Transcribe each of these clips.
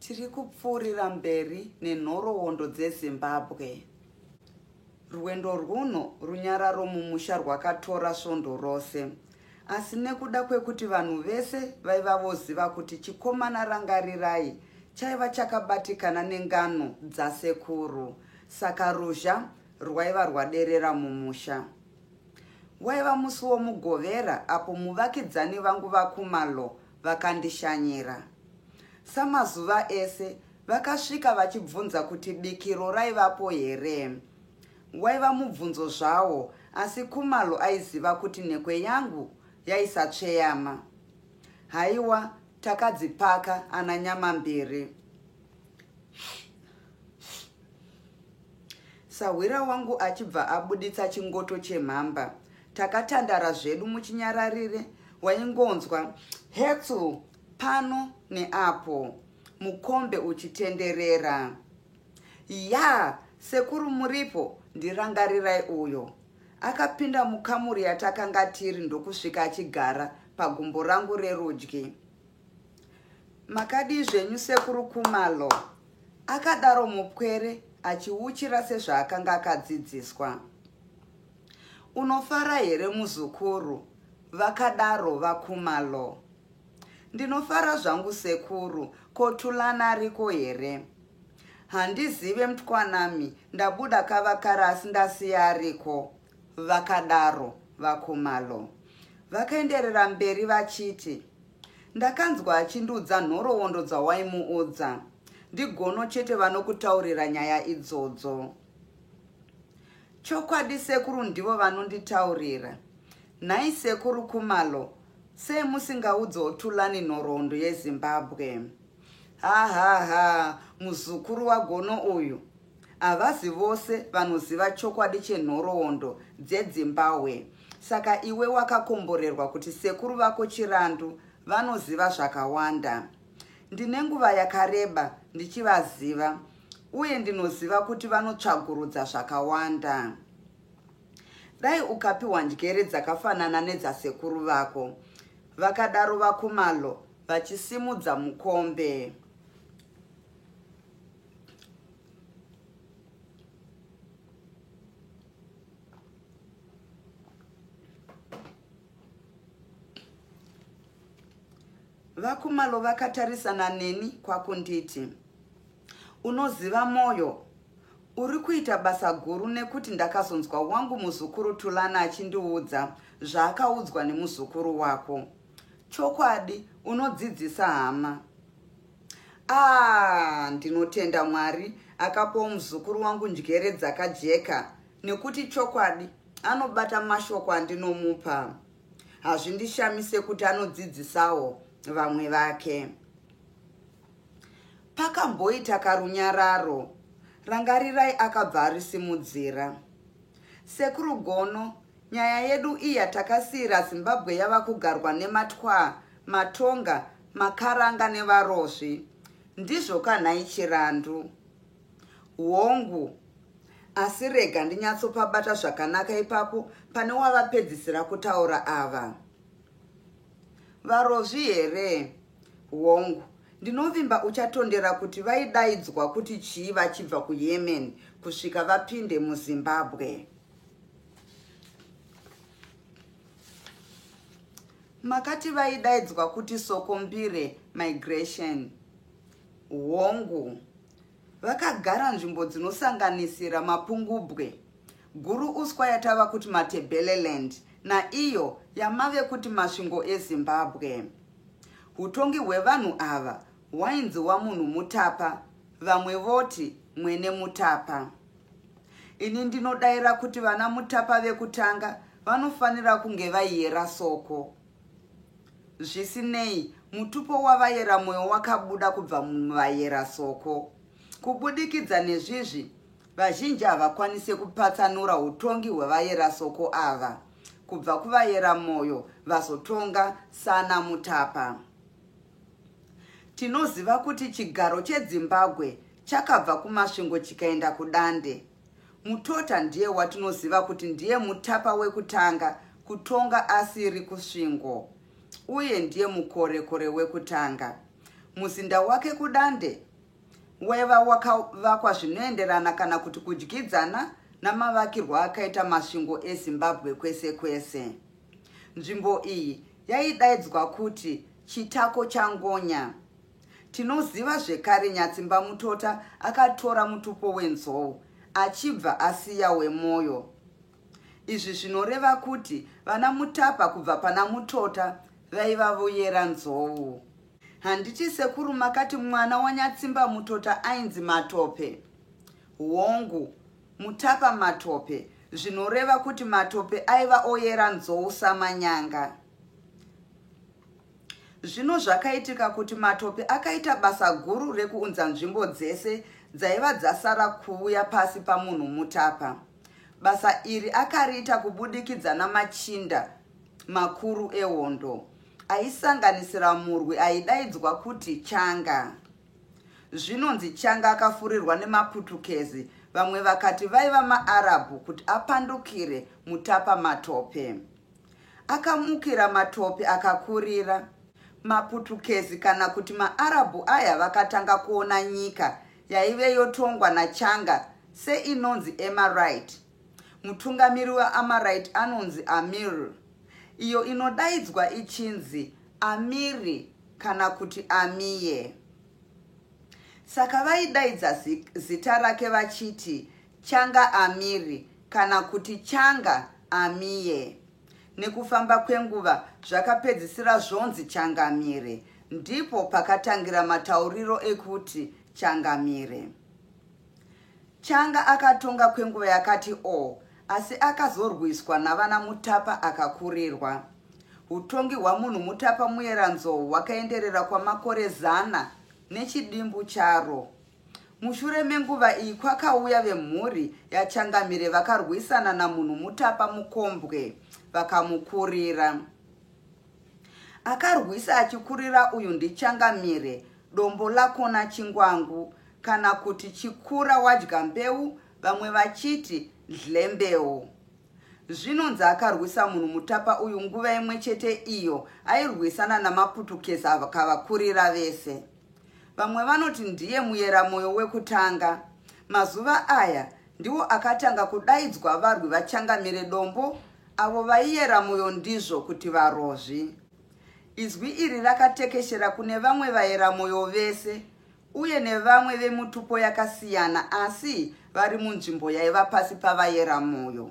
Tiri kupfuurira mberi nenhoroondo dzeZimbabwe. Rwendo rwuno runyararo mumusha rwakatora svondo rose. Asi nekuda kwekuti vanhu vese vaiva voziva kuti chikomana Rangarirai chaiva chakabatikana nengano dzasekuru saka ruzha rwaiva rwaderera mumusha. Waiva musi woMugovera apo muvakidzani vangu vaKhumalo vakandishanyira. Samazuva ese vakasvika vachibvunza kuti bikiro raivapo here. Waiva mubvunzo zvawo asi Khumalo aiziva kuti nhekwe yangu yaisatsveyama. Haiwa takadzipaka ana Nyamambiri. Sahwira wangu achibva abuditsa chingoto chemhamba Takatandara zvedu muchinyararire waingonzwa hetsu pano neapo mukombe uchitenderera. Yaa sekuru muripo ndirangarirai uyo. Akapinda mukamuri yatakanga tiri ndokusvika achigara pagumbo rangu rerudyi. Makadii zvenyu sekuru Kumalo? Akadaro mupwere achiuchira sezvaakanga akadzidziswa. Unofara here muzukuru? Vakadaro vaKhumalo. Ndinofara zvangu sekuru, ko Thulani ariko here? Handizive mtwanami, ndabuda kavakara asi ndasiya ariko. Vakadaro vaKhumalo. Vakaenderera mberi vachiti, Ndakanzwa achindiudza nhoroondo dzawaimuudza. NdiGono chete vanokutaurira nyaya idzodzo. Chokwadi sekuru ndivo vanonditaurira. Nhai sekuru Khumalo sei musingaudzewo Thulani nhoroondo yeZimbabwe. Hahaha muzukuru waGono uyu. Havazi vose vanoziva chokwadi chenhoroondo dzeDzimbahwe saka iwe wakakomborerwa kuti sekuru vako Chirandu vanoziva zvakawanda. Ndine nguva yakareba ndichivaziva Uye ndinoziva kuti vanotsvagurudza zvakawanda. Dai ukapiwa njere dzakafanana nedzasekuru vako, vakadaro VaKhumalo vachisimudza mukombe. VaKhumalo vakatarisana neni kwakunditi, Unoziva Moyo, uri kuita basa guru nekuti ndakazonzwa wangu muzukuru Thulani achindiudza zvaakaudzwa nemuzukuru wako. Chokwadi unodzidzisa hama. Aah ndinotenda Mwari akapawo muzukuru wangu njere dzakajeka nekuti chokwadi anobata mashoko andinomupa. hazvindishamise kuti anodzidzisawo vamwe vake. Pakamboita karunyararo, Rangarirai akabva arisimudzira. Sekuru Gono, nyaya yedu iyi yatakasiira Zimbabwe yava kugarwa nematwaa, matonga, makaranga nevarozvi. Ndizvo ka nhai Chirandu? Hongu, asi rega ndinyatsopabata zvakanaka ipapo pane wavapedzisira kutaura ava. Varozvi here? Hongu, ndinovimba uchatondera kuti vaidaidzwa kuti chii vachibva kuYemen kusvika vapinde muZimbabwe. Makati vaidaidzwa kuti Sokombire Migration. Hongu, Vakagara nzvimbo dzinosanganisira Mapungubwe, Guru Uswa yatava kuti Matebeleland naiyo yamave kuti Masvingo eZimbabwe. Hutongi hwevanhu ava hwainzi waMunhu Mutapa, vamwe voti Mwene Mutapa. Ini ndinodaira kuti vana Mutapa vekutanga vanofanira kunge vaiyera soko. Zvisinei, mutupo wavayera mwoyo wakabuda kubva muvayera soko. Kubudikidza nezvizvi, vazhinji havakwanise kupatsanura utongi hwevayera soko ava kubva kuvayera mwoyo vazotonga sana Mutapa. Tinoziva kuti chigaro cheDzimbabwe chakabva kuMasvingo chikaenda kuDande. Mutota ndiye watinoziva kuti ndiye mutapa wekutanga kutonga asiri Kusvingo uye ndiye mukorekore wekutanga. Muzinda wake kuDande waiva wakavakwa zvinoenderana kana kuti kudyidzana namavakirwo akaita Masvingo eZimbabwe kwese kwese. Nzvimbo iyi yaidaidzwa kuti Chitako chaNgonya. Tinoziva zvekare Nyatsimbamutota akatora mutupo wenzou achibva asiya wemoyo. Izvi zvinoreva kuti vana Mutapa kubva pana Mutota vaiva voyera nzou. Handiti sekuru makati mwana waNyatsimbamutota ainzi Matope? Hongu, Mutapa Matope, zvinoreva kuti Matope aiva oyera nzou samanyanga. Zvino zvakaitika kuti matope akaita basa guru rekuunza nzvimbo dzese dzaiva dzasara kuuya pasi pamunhu mutapa. Basa iri akariita kubudikidza namachinda makuru ehondo, aisanganisira murwi aidaidzwa kuti Changa. Zvinonzi Changa akafurirwa nemaPutukezi, vamwe vakati vaiva maArabhu, kuti apandukire mutapa matope. Akamukira matope akakurira. Maputukezi kana kuti maArabhu aya vakatanga kuona nyika yaive yotongwa naChanga seinonzi Emarite. Mutungamiri weAmarite anonzi Amir, iyo inodaidzwa ichinzi Amiri kana kuti Amie. Saka vaidaidza zita rake vachiti Changa Amiri kana kuti Changa Amie. Nekufamba kwenguva zvakapedzisira zvonzi Changamire. Ndipo pakatangira matauriro ekuti Changamire. Changa akatonga kwenguva yakati o, asi akazorwiswa navana Mutapa akakurirwa. Hutongi hwamunhu Mutapa Muyeranzou hwakaenderera kwamakore zana nechidimbu charo. Mushure menguva iyi kwakauya vemhuri yaChangamire vakarwisana namunhu mutapa mukombwe vakamukurira. Akarwisa achikurira uyu ndiChangamire, dombo lakona chingwangu kana kuti chikura wadya mbeu vamwe vachiti dhlembeu. Zvinonzi akarwisa munhu mutapa uyu nguva imwe chete iyo airwisana namaputukezi akavakurira vese. Vamwe vanoti ndiye Muyeramoyo wekutanga. Mazuva aya ndiwo akatanga kudaidzwa varwi vaChangamire Dombo avo vaiyera moyo ndizvo kuti varozvi. Izwi iri rakatekeshera kune vamwe vayeramoyo vese uye nevamwe vemutupo yakasiyana asi vari munzvimbo yaiva pasi pavayeramoyo.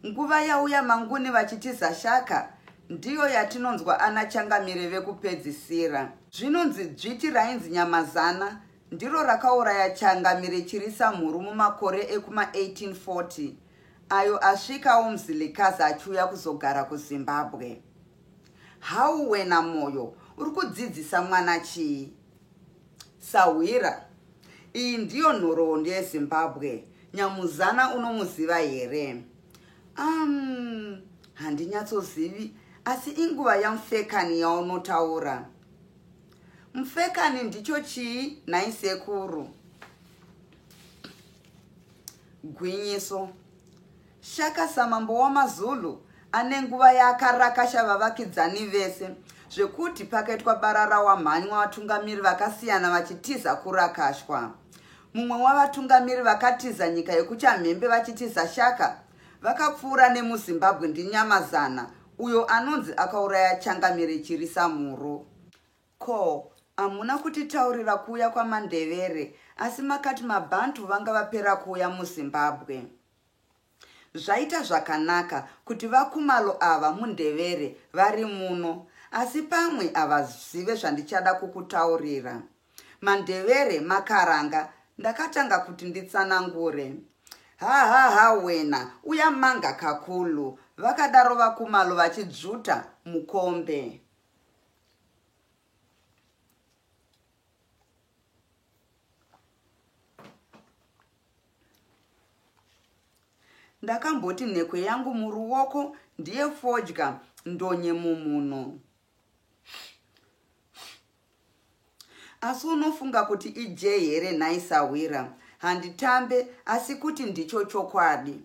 Nguva yauya manguni vachitiza shaka ndiyo yatinonzwa ana changamire vekupedzisira. Zvinonzi dzviti rainzi Nyamazana ndiro rakauraya Changamire Chirisamhuru mumakore ekuma 1840 ayo asvikawo Mzilikazi achiuya kuzogara kuZimbabwe. How wena Moyo uri kudzidzisa mwana chii? Sahwira. Iyi ndiyo nhoroondo yeZimbabwe. Nyamuzana unomuziva here? Umm handinyatsozivi asi inguva yamfekani yaunotaura. Mfekani ndicho chii nhai sekuru? Gwinyiso. Shaka samambo wamaZulu ane nguva yaakarakasha vavakidzani vese zvekuti pakaitwa barara wamhanywa vatungamiri vakasiyana vachitiza kurakashwa. Mumwe wavatungamiri vakatiza nyika yekuchamhembe vachitiza Shaka vakapfuura nemuZimbabwe ndiNyamazana uyo anonzi akauraya changamire Chirisamhuru. Ko hamuna kutitaurira kuuya kwamandevere asi makati mabantu vanga vapera kuuya muzimbabwe zvaita zvakanaka kuti vakumalo ava mundevere vari muno asi pamwe havazive zvandichada kukutaurira mandevere makaranga ndakatanga kuti nditsanangure hahaha wena uya manga kakulu vakadaro vakumalo vachidzvuta mukombe ndakamboti nhekwe yangu muruoko ndiye fodya ndonye mumhuno asi unofunga kuti ije here nhai sahwira handitambe asi kuti ndicho chokwadi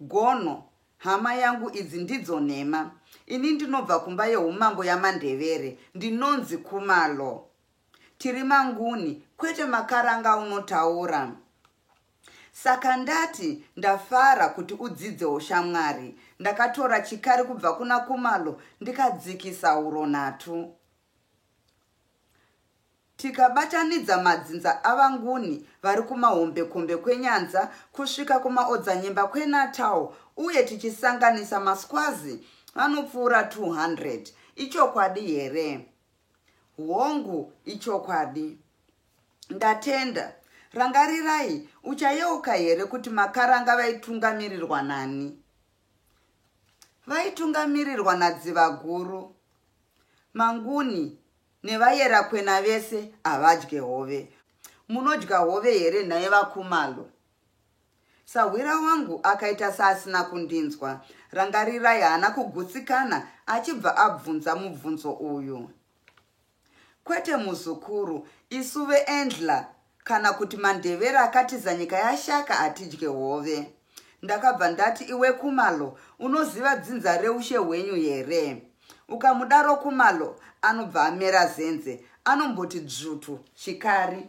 Gono, Hama yangu idzi ndidzo nhema. Ini ndinobva kumba yehumambo yamaNdevere, ndinonzi Khumalo. Tiri maNguni, kwete maKaranga aunotaura. Saka ndati ndafara kuti udzidze ushamwari. Ndakatora chikari kubva kuna Khumalo ndikadzikisa huro nhatu. Tikabatanidza madzinza aVaNguni vari kumahombekombe kweNyanza kusvika kumaodzanyemba kweNatal uye tichisanganisa maSwazi vanopfuura 200. Ichokwadi here? Hongu, ichokwadi. Ndatenda. Rangarirai, uchayeuka here kuti makaranga vaitungamirirwa nani? Vaitungamirirwa naDzivaguru. Manguni, Nevayerakwena vese havadye hove. Munodya hove here nhai vaKhumalo? Sahwira wangu akaita seasina kundinzwa. Rangarirai haana kugutsikana achibva abvunza mubvunzo uyu. Kwete muzukuru, isu veEndler Kana kuti mandevere akatiza nyika yashaka atidye hove. Ndakabva ndati iwe Kumalo unoziva dzinza reushe hwenyu here? Ukamudaro Kumalo anobva amera zenze anomboti dzvutu chikari.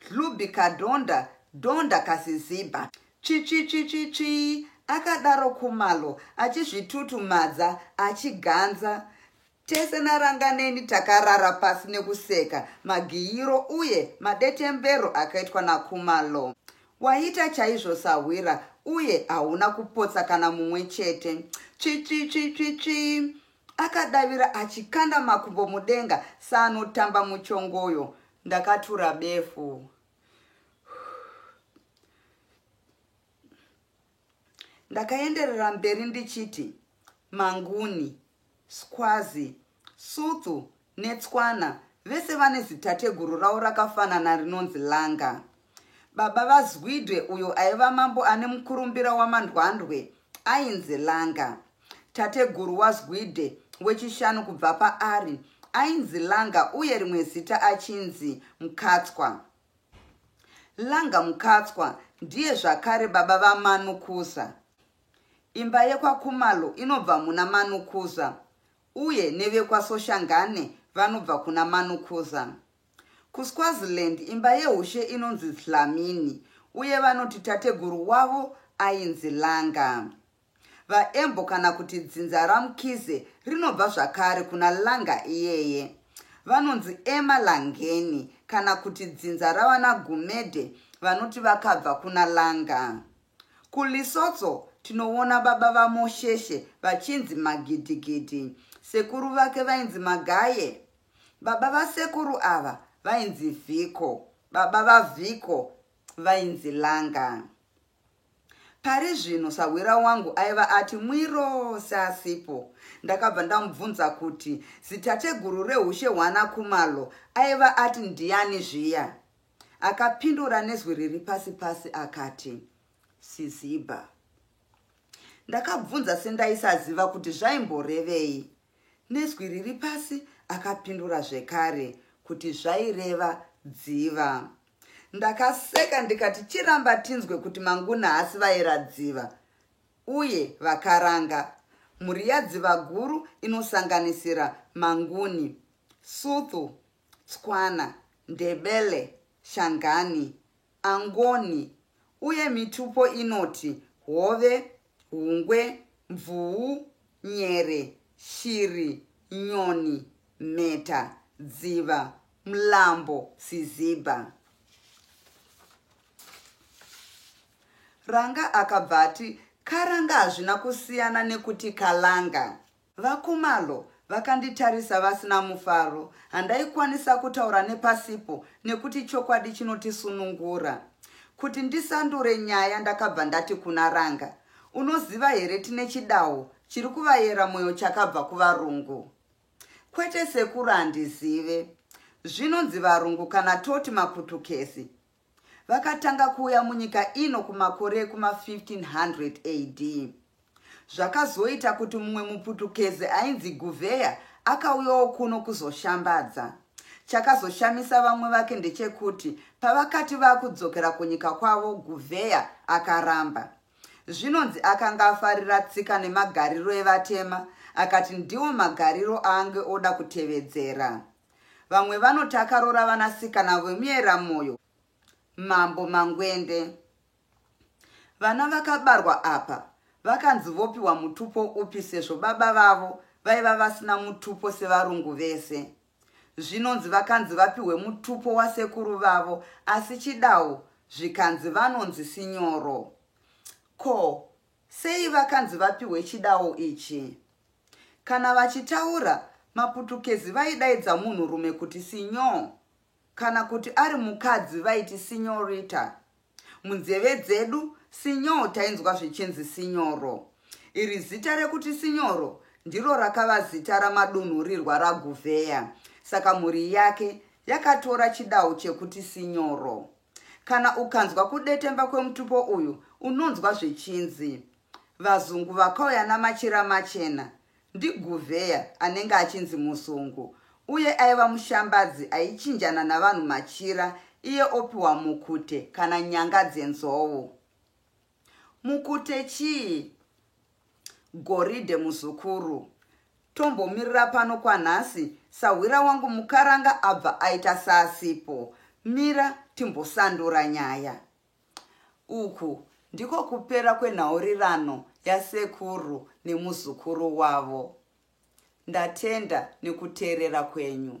Dhlubhi kadhonda dhonda kasizibha tsvitsvitsvitsvitsvii akadaro Khumalo achizvitutumadza achiganza Tese naRanganeni takarara pasi nekuseka magiyiro uye madetembero akaitwa naKhumalo Waita chaizvo sahwira uye hauna kupotsa kana mumwe chete tsvitsvitsvitsvitsvii Akadavira achikanda makumbo mudenga seanotamba muchongoyo. Ndakatura befu. Ndakaenderera mberi ndichiti, Manguni, Skwazi, Suthu Netswana, vese vane zitateguru ravo rakafanana rinonzi Langa. Baba vaZwide uyo aiva mambo ane mukurumbira waMandwandwe ainzi Langa. Tateguru waZwide wechishanu kubva paari ainzi Langa uye rimwe zita achinzi Mkatswa. Langa Mkatswa ndiye zvakare baba vaManukuza. Imba yekwaKhumalo inobva muna Manukuza uye nevekwaSoshangane vanobva kuna Manukuza. KuSwaziland imba yehushe inonzi Dlamini uye vanoti tateguru wavo ainzi Langa. VaEmbo kana kuti dzinza raMkhize rinobva zvakare kuna Langa iyeye. Vanonzi Emalangeni kana kuti dzinza ravanaGumede vanoti vakabva kuna Langa. KuLesotho tinoona baba vaMosheshe vachinzi Magidigidi. Sekuru vake vainzi Magaye. Baba vasekuru ava vainzi Vhiko. Baba vaVhiko vainzi Langa. Pari zvino sahwira wangu aiva ati mwiro seasipo. Ndakabva ndamubvunza kuti zitateguru rehushe hwana Kumalo aiva ati ndiani zviya. Akapindura nezwi riri pasi pasi akati, Siziba. Ndakabvunza sendaisaziva kuti zvaimborevei. Nezwi riri pasi akapindura zvekare kuti zvaireva dziva. Ndakaseka ndikati chiramba tinzwe kuti manguna hasi vaera dziva uye vakaranga mhuri yadziva guru inosanganisira manguni, suthu, Tswana, Ndebele, Shangani, Angoni uye mitupo inoti hove, hungwe, mvuu, nyere, shiri, nyoni, mheta, dziva, mlambo, sizibha. Ranga akabva ati, Karanga hazvina kusiyana nekuti kalanga. VaKhumalo vakanditarisa vasina mufaro. Handaikwanisa kutaura nepasipo nekuti chokwadi chinotisunungura. Kuti ndisandure nyaya ndakabva ndati kuna Ranga, Unoziva here tine chidawo chiri kuvayera moyo chakabva kuvarungu? Kwete sekuru handizive. Zvinonzi varungu kana toti maputukezi. Vakatanga kuuya munyika ino kumakore ekuma 1500 AD. Zvakazoita kuti mumwe muPutukezi ainzi Gouveia akauyawo kuno kuzoshambadza. Chakazoshamisa vamwe vake ndechekuti pavakati vakudzokera kunyika kwavo Gouveia akaramba. Zvinonzi akanga afarira tsika nemagariro evatema akati ndiwo magariro aange oda kutevedzera. Vamwe vanoti akaroora vanasikana vemueramoyo mambo mangwende. Vana vakabarwa apa vakanzi vopiwa mutupo upi sezvo baba vavo vaiva vasina mutupo sevarungu vese. Zvinonzi vakanzi vapihwe mutupo wasekuru vavo asi chidawu zvikanzi vanonzi sinyoro. Ko Sei vakanzi vapihwe chidawo ichi? Kana vachitaura, maPutukezi vaidaidza munhurume kuti Senhor kana kuti ari mukadzi vaiti Senhorita. Munzeve dzedu, Senhor tainzwa zvichinzi Sinyoro. Iri zita rekuti Sinyoro ndiro rakava zita ramadunhurirwa raGuvheya, saka mhuri yake yakatora chidawo chekuti Sinyoro. Kana ukanzwa kudetemba kwemutupo uyu unonzwa zvichinzi vazungu vakauya namachira machena ndiGuveya anenge achinzi muzungu uye aiva mushambadzi aichinjana navanhu machira iye opiwa mukute kana nyanga dzenzou. Mukute chii? Goridhe muzukuru. Tombomirira pano kwanhasi sahwira wangu mukaranga abva aita saasipo. Mira timbosandura nyaya. Uku ndiko kupera kwenhaurirano yasekuru nemuzukuru wavo. Ndatenda nekuteerera kwenyu.